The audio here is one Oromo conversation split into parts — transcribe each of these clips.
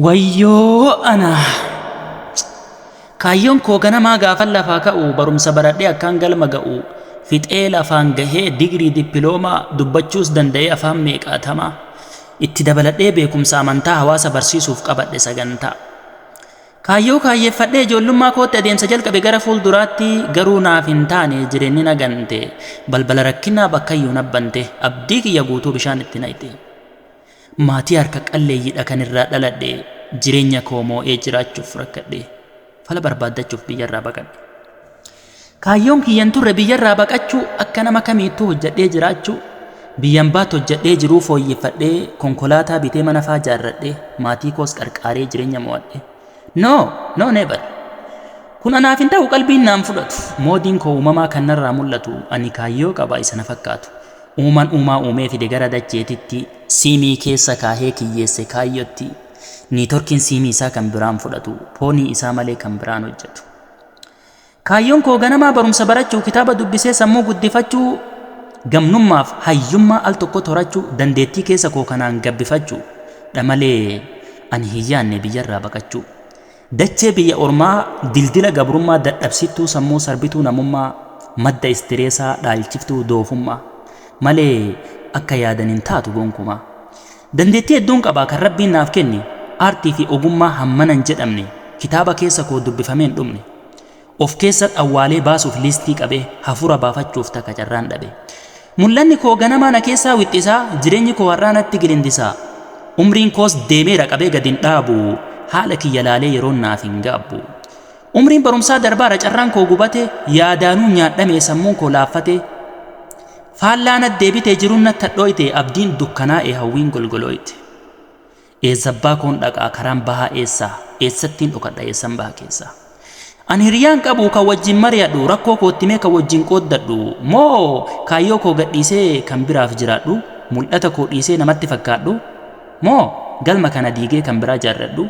Wayyoo anaa! Kaayyoon koo ganamaa gaafan lafaa ka'u barumsa baradhee akkaan galma ga'u fixee lafaan gahee digrii dippiloomaa dubbachuus danda'ee afaan meeqaatamaa itti dabaladhee beekumsa amantaa hawaasa barsiisuuf qabadhe sagantaa. Kaayyoo kaayyeeffadhee ijoollummaa kootti adeemsa jalqabe gara fuulduraatti garuu naaf hin taane jireenyi na gante balbala rakkinaa bakkayyuu nabbante abdii kiyya guutuu bishaan itti naqxe. Maatii harka qalleeyyidha kan irraa dhaladhe jireenya koo moo'ee jiraachuuf rakkadhe fala barbaaddachuuf biyyarraa baqadhe. Kaayyoon kiyyan turre biyyarraa baqachuu akka nama kamiittuu hojjadhee jiraachuu biyyan baatti hojjadhee jiruu fooyyeffadhee konkolaataa bitee mana faa jaarradhee maatii koos qarqaaree jireenya moo'adhe. No! No never! Kun anaaf hin ta'u qalbiin naan fudhatu moodiin koo uumamaa kan narraa mul'atu ani kaayyoo qaba isa na fakkaatu. Uuman uumaa uumee fide gara dacheetitti, siimii keessa kaahee kiyyeesse kaayyotti, niitorkiin siimii isaa kan biraan fudhatu, poonii isaa malee kan biraan hojjatu. Kaayyoon koo ganamaa barumsa barachuu, kitaaba dubbisee sammuu guddifachuu, gamnummaaf hayyummaa al tokkotti horachuu, dandeettii keessa koo kanaan gabbifachuu dha malee ani hin yaanne biyyarraa baqachuu. Dachee biyya ormaa dildila gabrummaa dadhabsiftuu sammuu sarbituu namummaa madda istireesaa dhaalchiftuu doofummaa malee akka yaadan hin taatu gonkumaa Dandeettii hedduun qaba kan rabbiin naaf kenne aartii fi ogummaa hammana hin jedhamne kitaaba keessa koo dubbifamee hin dhumne of keessat awwaalee baasuuf liistii qabee, hafuura baafachuuf takka carraan dhabe. Mul'anni koo ganamaa na keessaa wixxisaa, jireenyi koo har'aa natti gilindisaa. Umriin koos deemeera qabee gad hin dhaabu, haala kiyya laalee yeroon naaf hin gaabbu. Umriin barumsaa darbaara carraan koo gubate, yaadaanuu nyaadhamee sammuun koo laaffate. Faallaa nat deebite jiruun nat hadhooyte, abdiin dukkanaa'e hawwiin golgolooyte. Eessabbaa koon dhaqaa? Karaan bahaa eessaa? Eessattiin dhokadha eessan baha keessaa? Ani hiriyaa hin qabu kan wajjin mari'adhu, rakkoo koo itti himee kan wajjin qooddadhu, moo kaayyoo koo gadhiisee kan biraaf jiraadhu, mul'ata koo dhiisee namatti fakkaadhu, moo galma kana diigee kan biraa jaarradhu?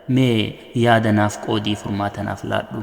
Mee yaada naaf qoodii furmaata naaf laadhu.